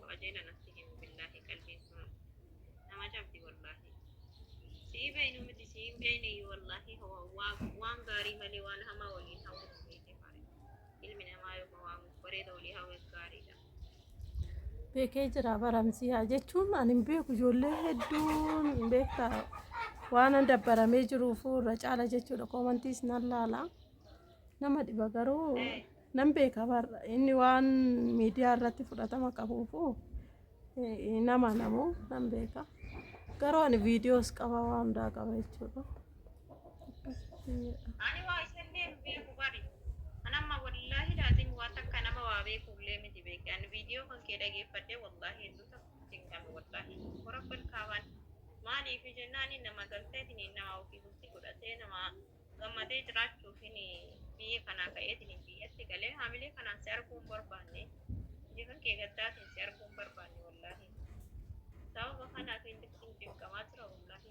qajeela natti himu billaahi qalbiin sun nama cabdi wallaahi sii beeynu miti sii hin beeyneeyyu wallaahi waan gaarii malee waan hamaa waliin hawwatu beeyte faare ilmi namaa yooma waan bareeda walii hawweef gaariidha beekee jira baramsii haa jechuun ani hin beeku ijoollee hedduun hin beekta waan an dabbaramee jiruuf irra caala jechuudha koomantiis nan laala nama dhiba garuu nan beeka bar inni waan miidiyaa irratti fudhatama qabuufu eh, nama namu nan beeka garuu ani viidiyoos qaba waan hundaa qaba jechuudha. Ani waa isallee hin beeku bari. An amma wallaahi laazim waa takka nama waa beekullee miti beeki. An viidiyoo kan kee dhageeffadhee wallaahi hedduu takka itti hin galu wallaahi. Warabbal kaabaan maaliif jennaani nama galteetiniin nama ofii bultii godhatee nama gammadee jiraachuufin biyya kanaa ka'eetiniin biyyatti galee haamilee kanaan si arguu hin barbaanne. Biyya kan kee gaddaatiin si arguu hin barbaanne wallaahi. Sababa kanaaf hin cinqamaa jira wallaahi.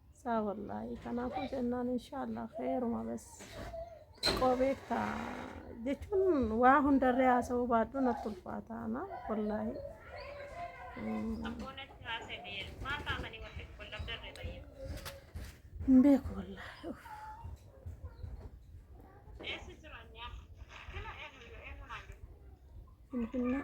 Saa wallaahi kanaafuu jennaan inshaallah kheeruma bas xiqqoo beekta jechuun waa hundarree haasa'uu baadhuu natti ulfaata ana wallaahi. Hin beeku wallaahi. uff. Finfinnee.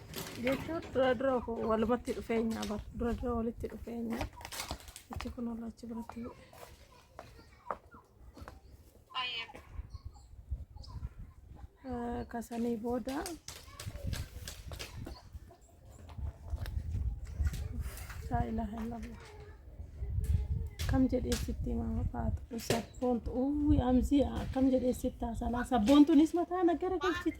jechuun dura dura walumatti dhufeenya bar dura dura walitti dhufeenya achi kun olla achi biratti eh, kasanii booda laa ilaaha illallah akkam jedhee sitti himaa faatu sabboontu uwwi amzii akkam jedhee sitti haasalaa sabboontunis mataa na gara galchite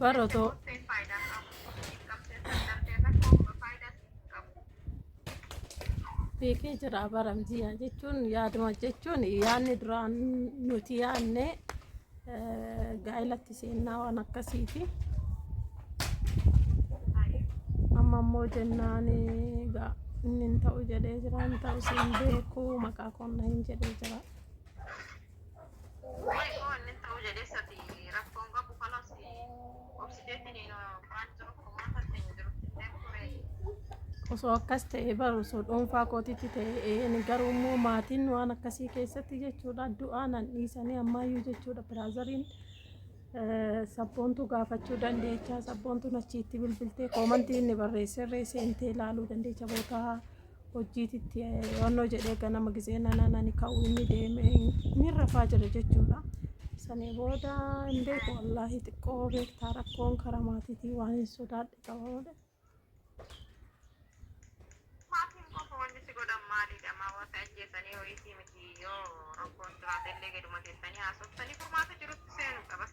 Bara otoo beekee jira bara mijiyaa jechuun yaaduma jechuun yaadni duraan nuti yaadne eh, gaa'ilatti seennaa waan akkasiiti. Amma immoo jennaan eh, gaa- inni hin ta'u jedhee jira hin ta'u siin beeku maqaa koonna hin jedhee jira. Way koo inni ta'uu jedhee sati rakkoon qabu kanas obsiteetiin hin waan jiru kumaa tatte hin jiru illee kuree. Osoo akkas ta'e baru osoo dhuunfaa kootitti ta'e ani garuu immoo maatiin waan akkasii keessatti jechuudha du'aa nan dhiisanii ammaayyuu jechuudha biraazariin sabboontuu gaafachuu dandeecha sabboontuun achiitti bilbiltee koomantii inni barreesserree seentee ilaaluu dandeecha bootaa hojjiititti onnoo jedhee ganama gisee nanaan ani ka'u inni deeme inni rafaa jira jechuudha. Sanii booda hin beeku wallaahi xiqqoo beektaa rakkoon karaa maatiitii waan hin sodaadhe qaba malee. Maatiin qofa wanni si godhan maalidha? Maa waa si ajjeesanii ho'iitii miti yoo rakkoon jiraate illee gaduma teessanii haasoftanii furmaata jirutti seenuudha bas.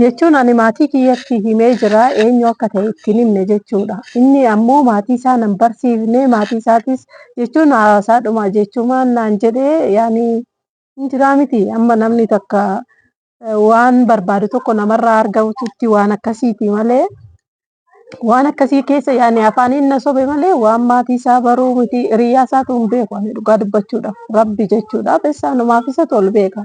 jechuun ani maatii kiyyatti himee jira eenyu akka ta'e ittiin himne jechuudha. Inni ammoo maatii isaa nan barsiifne maatii isaatis jechuun haasaa dhuma jechumaan naan jedhee yaani hin jiraa miti amma namni takka waan barbaadu tokko namarraa argamutti waan akkasiiti malee waan akkasii keessa yaani afaaniin na sobe malee waan maatii isaa baruu miti hiriyaa isaatu hin beeku ani dhugaa dubbachuudhaaf rabbi jechuudha bessaanumaaf isatu ol beeka.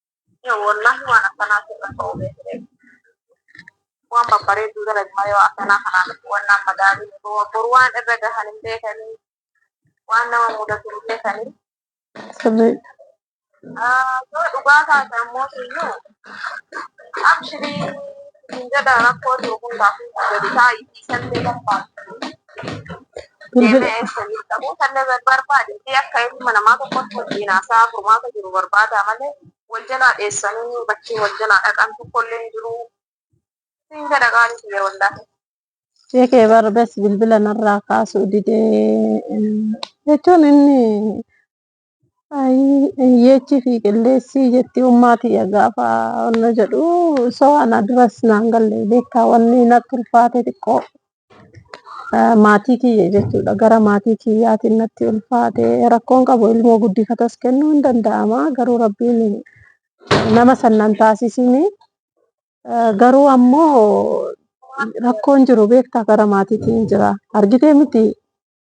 Wallaahi waan akkanaa sirra ta'uu beekne. Waan babbareedduu dalagi malee waan akkanaa kanaa miti waan nama madaalii boru waan irra gahan hin beekanii waan nama mudatu hin beekanii. Sirriidha. Yoo dhugaa taate ammoo siyyuu abshirii hin jedha rakkoo jiru hundaaf gadi taa'i dhiisan beekan taate. Bilbila Ta'uu tanne barbaade fi akka ilma namaa tokkotti wajjin haasaa furmaata jiru barbaadaa malee wal jalaa dheessanii bakkee wal jalaa dhaqan tokkollee hin jiru. Siin jedha qaalii kiyya wallaahi. ishee kee barbes bilbila narraa kaasuu didee jechuun inni Ayii yeechi fi qilleessii jetti ummaa tiyya gaafa wanna jedhu soo ana duras naan galle beektaa wanni natti ulfaate xiqqoo eh, maatii kiyya jechuudha gara maatii kiyyaatiin natti ulfaate rakkoon qabu ilmoo guddifatas kennuu hin danda'ama garuu rabbiin nama sannan taasisini Eh, garuu ammoo rakkoon jiru beektaa gara maatiitiin jira argitee miti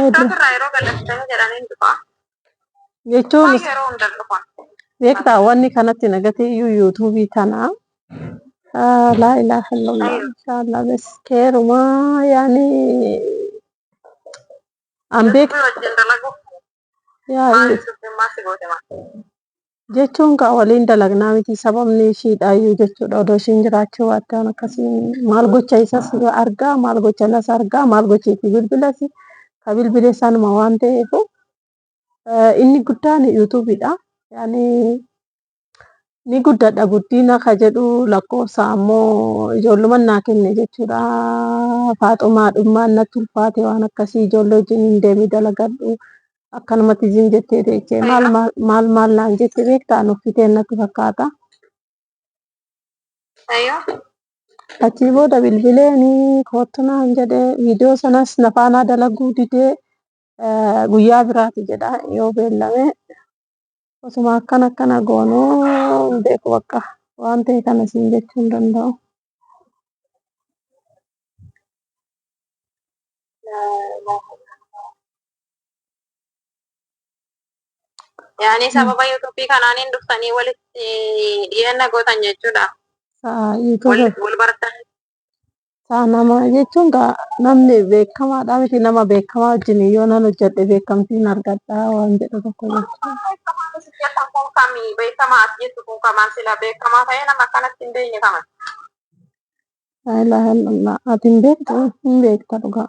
Asirraa yeroo gallattan jedhaniin dhufa. Jechuun Isaan yeroo hunda dhufan. beektaa wanni kanatti nagate iyyuu yuutuubii tana ah, laa ilaaha illallah inshaallah bes keerumaa yaani an beek Rabbii wajjin dalagu. jechuun kaa waliin dalagnaa miti sababni ishiidhaayyuu jechuudha odoo ishiin jiraachuu baatte waan akkasii maal gocha isas argaa maal gocha nas argaa maal gocha itti bilbilas ka bilbile sanuma waan ta'eef inni guddaan yuutuubiidha yaani ni guddadha guddiina ka jedhu lakkoofsa ammoo ijoolluman naa kenne jechuudha faaxumaa dhummaan natti ulfaate waan akkasii ijoollee wajjin hin deemi dalagadhu akkanumatti zim jettee teechee maal maal- maal maal naan jette beektaa nuffiteen natti fakkaata Ayo. achii booda bilbileeni koottu naan jedhe viidiyoo sanas nafaanaa dalaguu didee eh, guyyaa biraati jedha yoo beellame Osuma akkana akkana goonuu hin beeku bakka waan ta'e kana siin jechuu hin danda'u. Yaani sababa yuutuubii kanaaniin dhuftanii walitti dhiyeenya gootan jechuudha. Sa'a Wal yuutuuba wal bartan. Isaa nama jechuun gaa namni beekamaadha miti nama beekamaa wajjin yoo nan hojjedhe beekamtiin argadha waan jedhu tokko jechuudha. Laa ilaaha illallah. Ati hin beektu hin beekta dhugaa.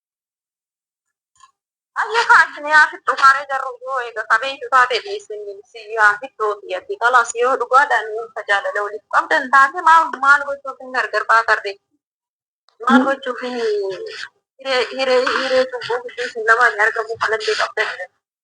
Ayya kaasni yaa fixxu kaaree jarru yoo eega kabeeytu taate dhiisin si yaa fixxu ati kalas yoo dhugaadhaan wanta jaalala waliif qabdan taate maal maal gochuuf hin gargar baatarre maal gochuuf hin hiree hiree hiree cubbuu gidduu isin lamaan argamu kanallee qabdan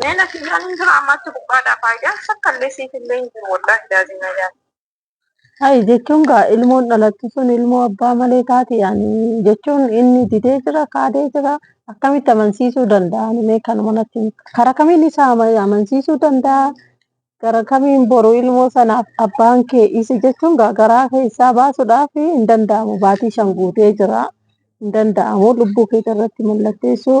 Mee na kiyyaan hin jiru ammaatti gubbaadhaa faayidaan sakkaallee siif illee hin jiru wallaahi daazina yaala. Hayi jechuun gaa ilmoon dhalattu sun ilmoo abbaa malee taati yaani jechuun inni didee jira kaadee jira akkamitti amansiisuu danda'a ani mee kanuma natti himi. kara kamiin isa ama- amansiisuu danda'a gara kamiin boru ilmoo sanaaf abbaan kee isa jechuun gaa garaa keessaa baasuudhaaf hin danda'amu baatii shan guutee jira hin danda'amu lubbuu kee irratti mallatteessuu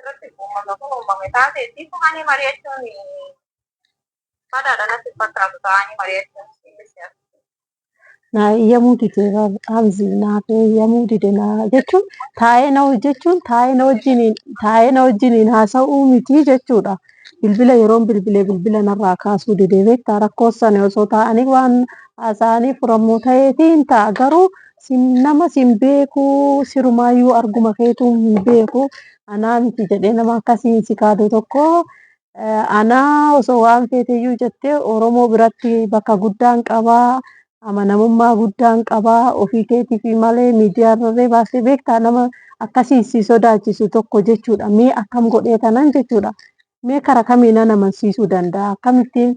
irratti uummata kun uumame taate itti fufanii mari'achuun badaadha natti fakkaatu ta'anii mari'achuun inni siyaasa. Na eeyyamuu dide qaamsi naaf eeyyamuu dide na jechuun taa'ee na hojjechuun taa'ee na wajjiniin taa'ee na wajjiniin haasa'uu miti jechuudha. Bilbila yeroon bilbilee bilbila narraa kaasuu dide beektaa rakkoo sana osoo taa'anii waan haasa'anii furamu ta'eetii hin ta'a garuu Nama si hin beeku sirumaayyuu arguma keetu hin beeku anaa miti jedhee nama akkasiin si kaadu tokko anaa osoo waan feeteyyuu jettee Oromoo biratti bakka guddaan qabaa amanamummaa guddaan qabaa ofii keetiif malee miidiyaarrallee baastee beektaa nama akkasiin si sodaachisu tokko jechuudha mee akkam godhee tanan jechuudha mee kara kamiin nan amansiisuu danda'a akkamittiin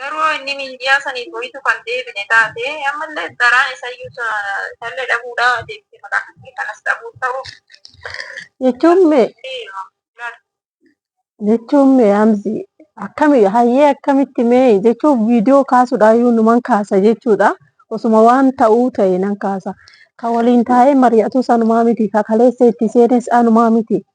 Garuu inni miindiyaa saniif ho'itu kan deebine taate ammallee daraan isayyuu isallee dhabuudha deebisee maqaa kan kanas dhabuu ta'u. Jechuun mee jechuun mee amsi akkami hayyee akkamitti mee jechuun viidiyoo kaasuudhaayyuu numan kaasa jechuudha. Osuma waan ta'uu ta'e nan kaasa. Kan waliin taa'ee mari'atu sanumaa miti. Kan kaleessa itti seenes anumaa miti.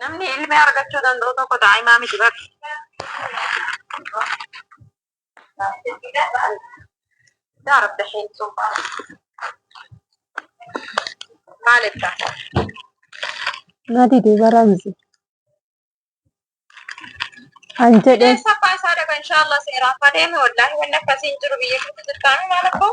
Namni ilmi argachuu danda'u tokko daa'imaa miti bar. Yaa Rabbi hin suufa. Maal ibsa? Nati duuba ramsi. An jedhe Bineensa abbaa isaa dhaga inshaallah seeraaf adeeme wallaahi wanni akkasii hin jiru biyya keessa jirtaanii maal akkoo?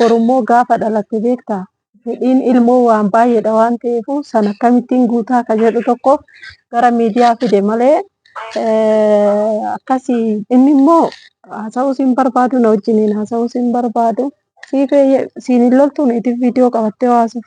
Borummoo gaafa dhalatte beektaa? Fedhiin ilmoo waan baay'eedha waan ta'eef sana akkamittiin guutaa akka jedhu tokkoof gara miidiyaa fide malee akkasii inni immoo haasa'uus hin barbaadu na wajjiniin haasa'uus hin barbaadu. Siifee siin hin loltuun itiif viidiyoo qabattee waasuuf.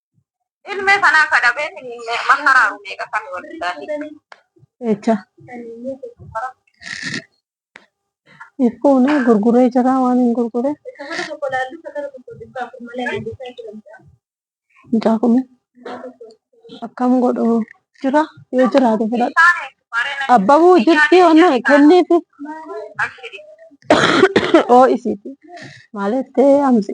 Ilmee sanaa ka dhabee finfinnee makaraaru meeqa kan waldaati. Echa. Ifuuna gurguree jira waan hin gurgure. Mucaa kuni akkam godhu jira yoo jiraate fudhadha. Isaanii bareena Abbabuu jirti wanna kenniifi abshiri. oo isiiti. Maaliif ta'ee amsi.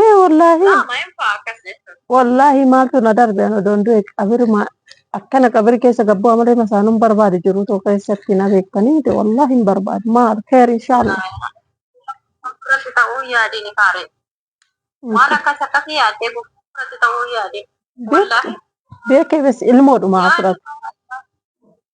Ee wallaahi Laa maayeen fa'aa akkas jechuun. wallaahi maaltu na darbe ana odoon du'e qabiruma akkana qabiri keessa gabbuu amalee masaanuun barbaade jiru too keessatti na beektanii miti wallaahi hin barbaadu maal keer inshaallah. Fuulduratti ta'uu yaadeen kaaree. Waan akkas akkasii yaadee fuulduratti ta'uu yaadee. Wallaahi. Beekee bes ilmoodhuma asirratti.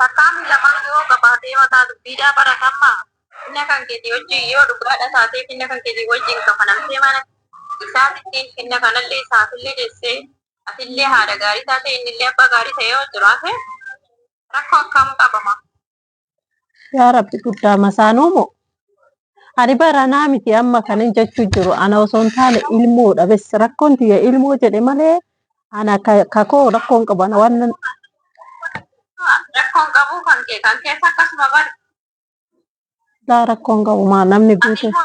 Takkaa fi lamaa yoo qabaatee mataa dubbiidhaa baratamma finna kan keetii wajjin yoo dhugaadha taatee finna kan keetii wajjin kafanamtee mana isaatitti finna kanallee isaafillee deessee atillee haadha gaarii taatee innillee abbaa gaarii ta'ee yoo jiraate rakkoo akkam qaba ma Yaa Rabbi guddaa masaanuu moo? Ani baranaa miti amma kanin jechuu jiru ana osoo hin taane ilmoodha bes rakkoon tiyya ilmoo jedhe malee ana ka- kakoo rakkoon qabu ana waan nan- Rakkoon qabuu kan kee kan keessa akkasuma bari. laa rakkoon qabu maa namni Ati guute ilmoo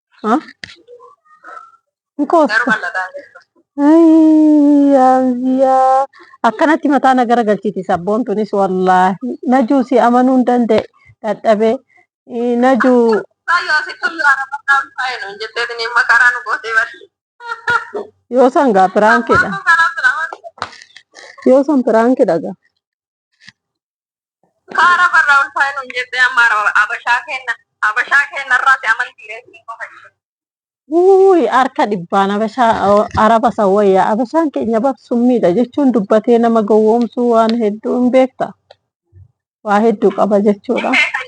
akkanatti mataa na gara galchiti sabboon tunis wallaahi najuu si amanuu hin danda'e dadhabee najuu yoo san gaa piraankidha yoo san piraankidha gaa Kaara farraa ulfaa'e nuun jettee amma ara- abashaa kenna abashaa kenna irraati amantii reetiin qofa ishee. Uuy harka dhibbaan abashaa araba san wayya abashaan keenya bar summiidha jechuun dubbatee nama gowwoomsuu waan hedduu hin beekta waa hedduu qaba jechuudha Hin beekan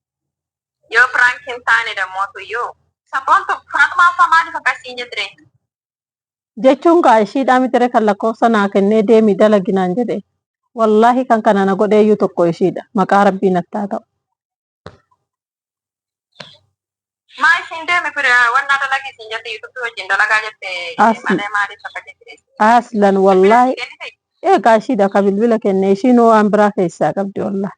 Yoo prank hin taane dammoo tuyyuu. Sabboontu Faxumaa uffaa maaliif akkas siin jettire. Jechuun kaa ishiidhaa mitire kan lakkoofsa naa kennee deemi dalagi naan jedhe wallaahi kan kana na godheeyyuu tokko ishiidha maqaa rabbii natti haa ta'u. Maa ishiin deemi pir wannaa dalagi siin jette yuutubii wajjin dalagaa jette As- malee maaliif akka jettire. Aslan Bilbila wallaahi sii kennite? eegaa ishiidha ka bilbila kenne ishiinuu waan biraa keessaa qabdi wallaahi.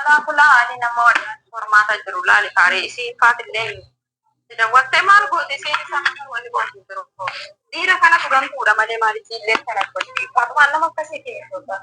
Alaa kulaa haalii nama warraan hormaata jiru laali kaaree isiin faatillee dawwattee maal goote isiin isaan kan wani gootu jiru dhiira kana turantuudha malee maal isiillee kana gochii faaxumaan nama akkasii keessoota